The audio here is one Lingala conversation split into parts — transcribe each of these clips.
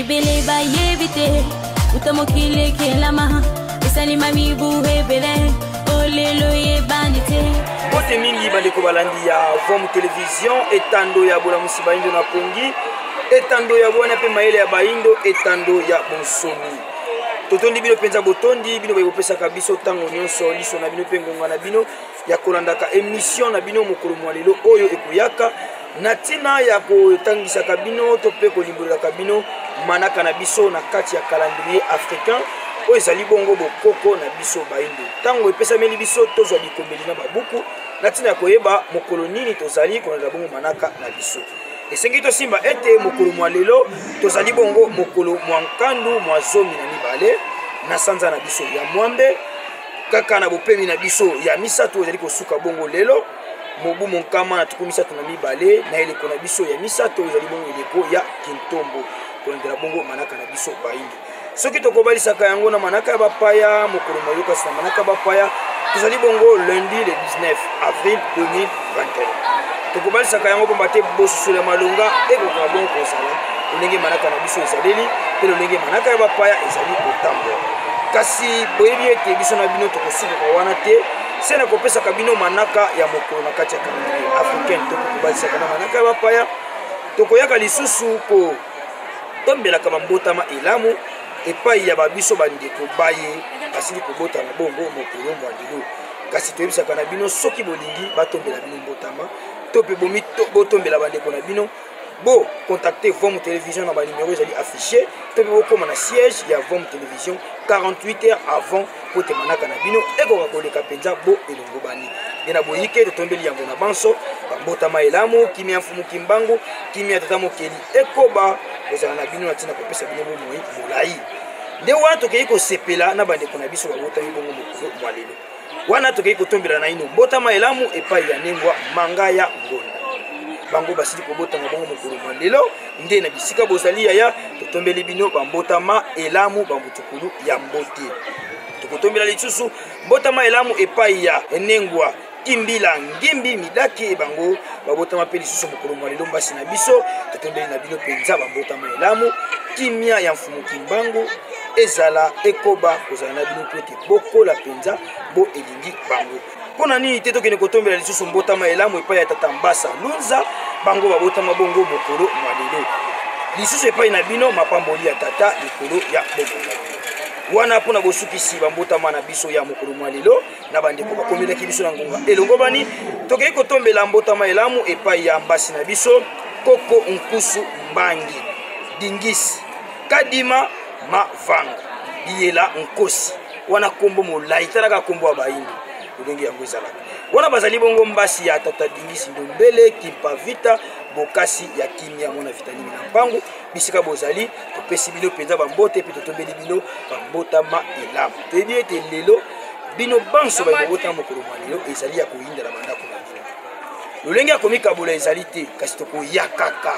ebele bayebi te uta mokili ekelama esalima mibu ebele olelo yebani te bote mingi bandeko balandi ya vom television etando ya bolamusi baindo na pongi etando ya bwana mpe mayele ya baindo etando ya bonsomi totondi bino mpenza botondi bino baye bopesaka biso ntango nyonso liso na bino mpe ngonga na bino ya kolandaka emission na bino mokolo mwa lelo oyo ekoyaka na ntina ya kotangisaka bino to mpe kolimbolelaka bino manaka na biso na kati ya calendrier africain oyo ezali bongo bokoko na biso baindo ntango epesameli biso tozwa bikomeli na babuku na ntina ya koyeba mokolo nini tozali kolandela bongo manaka na biso esengi tosimba ete mokolo mwa lelo tozali bongo mokolo mwa nkandu mwa zomi na mibale na sanza na biso ya mwambe kaka na bopemi na biso ya misato ezali kosuka bongo lelo mobu monkama na tuku misato na mibale na eleko na biso ya misato ezali bongo eleko ya kintombo kolendela bongo manaka na biso baingi soki tokobalisaka yango na manaka ya bapaya mokolo moyokasi na manaka ya bapaya tozali bongo lundi le 19 avril 2000 21 tokobalisaka yango mpamba te bososolo ya malonga ekokoka bongo kozala lolenge manaka na biso ezaleli mpe lolenge manaka ya bapaya ezali kotambola kasi boyebi ete biso na bino tokosikoka wana te se na kopesaka bino manaka ya mokolo na kati ya calendrier africaine tokokobalisaka na manaka ya bapaya tokoyaka lisusu kotombelaka bambotama elamu epai ya babiso bandeko baye basili kobotama bongo mokolo mwa lelo kasi toyebisaka na bino soki bolingi batombela bino mbotama to mpe botombela bandeko na bino bo contacte vom télévision na banimero ezali affiché to mpe bokóma na siège ya vom télévision 48 heures avant kote manaka na bino ekoka koleka mpenza bo elongobani nde na boyike totombeli yambo na banso bambotama elamu kimia mfumu kimbangu kimia tata mokeli ekoba kozala na bino na ntina kopesa bino bomoi molai nde wana tokei kosepela na bandeko na biso babotami bongo mwa lelo wana tokei kotombela naino mbotama elamu epai ya nengwa manga ya ngonda bango basili kobotama bango mokolo mwa lelo nde na bisika bozali yaya totombeli bino bambotama elamu bambutukulu ya mbote tokotombela lisusu mbotama elamu epai ya enengwa kimbila ngimbi midaki bango babotama mpe lisusu mokolo mwa lelo mbasi na biso totondeli na bino mpenza babotama elamu kimia ya mfumu kimbangu ezala ekoba kozala na bino mpo ete bokola mpenza bo elingi bango mpo na nini te tokende kotombela lisusu mbotama elamu epai ya tata mbasa lunza bango babotama bongo mokolo mwa lelo lisusu epai na bino mapamboli ya tata likolo ya bomoi wana mpo na bosukisi bambotama na biso ya mokolo mwa lelo na bandeko bakomelaki biso na ngonga elongobani tokei kotombela mbotama elamu epai ya mbasi na biso koko nkusu mbangi dingisi kadima mavanga biyela nkosi wana nkombo molai talaka nkombo ya bayindo ndenge yango ezalaka wana bazali bongo mbasi ya tata dingisi ndombele kimpavita bokasi ya kimia mwana vitalimi na mpango bisika bozali topesi bino mpenza bambote mpe totombeli bino bambotama elamu toyebi ete lelo bino banso baye bobotama mokolo mwa lelo ezali ya koyinda na bandako na bino lolenge ya komikabola ezali te kasi tokoya kaka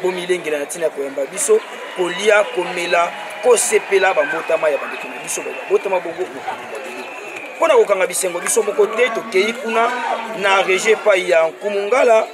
bomilengela na ntina ya koyamba biso kolia komela kosepela bambotama ya bandeko na biso babotama bongo mokolo mwa lelo mpo na kokanga bisengo biso moko te tokei kuna na regie epai ya nkumungala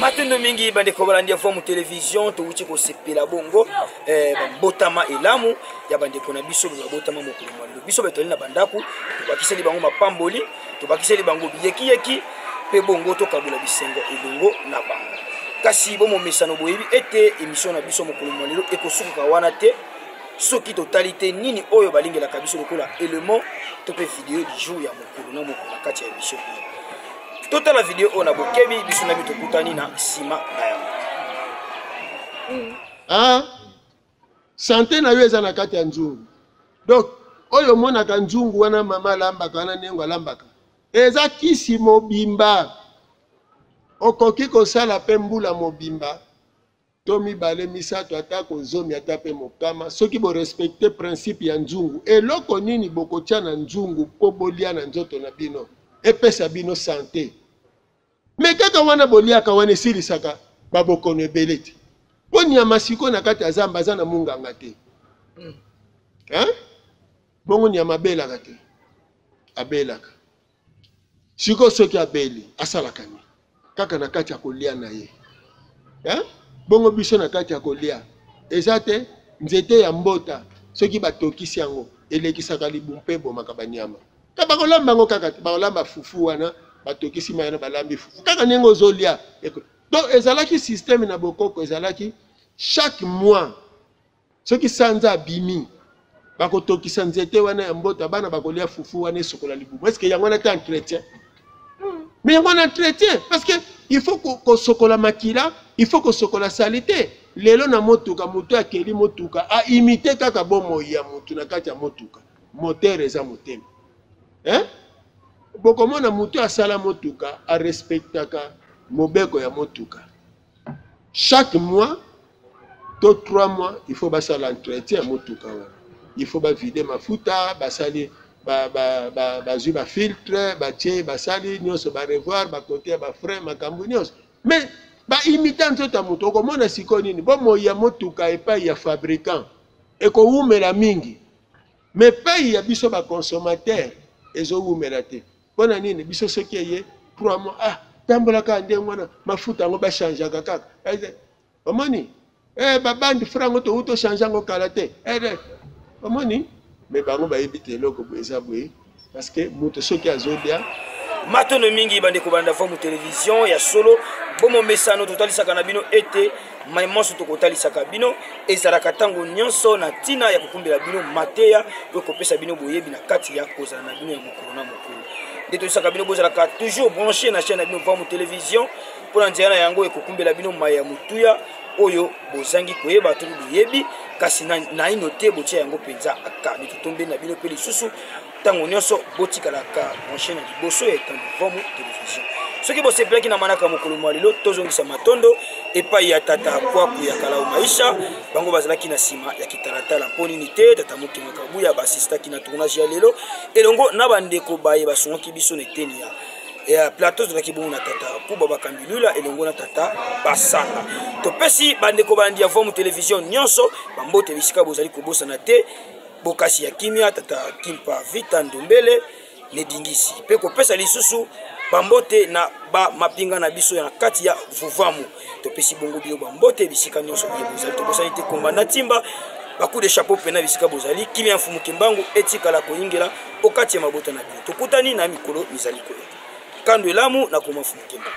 matondo mingi bandeko balandi ya vomu television towuti kosepela bongo eh, bambotama elamu ya bandeko na biso baye babotama mokolo mwa lelo biso batali na bandako tobakiseli bango mapamboli tobakiseli bango biyekiyeki mpe bongo tokabola bisengo elongo na bango kasi bomomesano boyebi ete emission na biso mokolo mwa lelo ekosukuka wana te soki totali te nini oyo balingelaka biso lokola element to mpe video du jour ya mokolo na mokolo na kati ya emission totala video oyo na bokebi biso na biso tokutani na nsima na yango hmm. ah, sante na yo eza na kati ya nzungu donc oyo omonaka nzungu wana mama alambaka wana nengo alambaka eza kisi mobimba okoki kosala mpe mbula mobimba to mibale misato atako zomi ata mpe mokama soki borespecte principe ya nzungu eloko nini bokotya na nzungu mpo bolia na nzoto na bino epesa bino sante me kaka wana boliaka wana esilisaka babokono ebele te mpo nyama sikoyo na kati ya zamba aza na munganga te hmm. bongo nyama abelaka te abelaka siko soki abeli asalaka nini kaka na kati ya kolia na ye eh? bongo biso na kati ya kolia eza te nzete ya mbota soki batokisi yango elekisaka libu mpe ebomaka banyama ta bakolamba yango kaka te bakolamba fufu wana batokisi mai na balambi fufu kaka ndenge ozolia donc ezalaki systeme na bokoko ezalaki chaque mois soki sanza abimi bakotokisa nzete wana ya mbota bana bakolia fufu wana esokola libumu eske yango wana te entretien hmm. mais yango wana entretien parce que il faut kosokola makila il faut kosokola salite lelo na motuka motu akeli motuka aimite kaka bomoi ya motu na kati ya motuka motere eza motema eh? bokomona motu asala motuka arespectaka mobeko ya motuka chaque mois to 3 mois il faut basala entretien ya motuka wana il faut bavide mafuta basali bazwi bafiltre batie basali nyonso barevoir bakote ya bafrain makambo nyonso mais baimita nzoto ya moto okomona sikoyo nini bomoi ya motuka epai ya fabricant ekowumela mingi mais epai ya biso baconsommateur ezowumela te pona nini biso soki eye 3 mois ah tambola kaka ndenge wana mafuta yango bachangeaka kaka eh, omoni eh, babandi fra yango towu tochange yango kala te eh, eh. omoni me bango bayebi te eloko boye eza boye parce que moto soki azolia matono mingi bandeko bandafo mu television ya solo bomomesano totalisaka na bino ete mai manso tokotalisaka bino ezalaka ntango nyonso na ntina ya kokumbela bino mateya to kopesa bino boyebi na kati ya kozala na bino ya mokolo na mokolo nde toyesaka bino bozalaka toujours branche na chaîne na bino vamu télévision mpo na nzela na yango ekokumbela bino mai ya motuya oyo bozangi koyeba to boyebi kasi naino te botia yango mpenza aka mitotombe na bino mpe lisusu ntango nyonso botikalaka branche na liboso ya etango vamu television soki bosepelaki na manaka mokolo mwa lelo tozongisa matondo epai ya tata kwaku ya kalao maisha bango bazalaki na nsima ya kitalatala mpo nini te tata mokenga kabuya basistaki na tournage ya lelo elongo na bandeko baye basungaki biso na eteni ya ya plateau tozalaki bongo na tata kuba bakambi lula elongo na tata basanga topesi bandeko balandi ya vomu television nyonso bambote bisika bozali kobosana te bokasi ya kimia tata kimpa vita ndombele nedingisi mpe kopesa lisusu bambote na bamapinga na biso na kati ya vuvamu topesi bongo bino bambote bisika nyonso biye bozali tobosani te komba na timba bacoup de chapeau mpena bisika bozali kimia ya mfumu kimbangu etikala koyingela okati ya mabota na bino tokutani na mikolo mizali koya kando elamu na koma mfumu kimbangu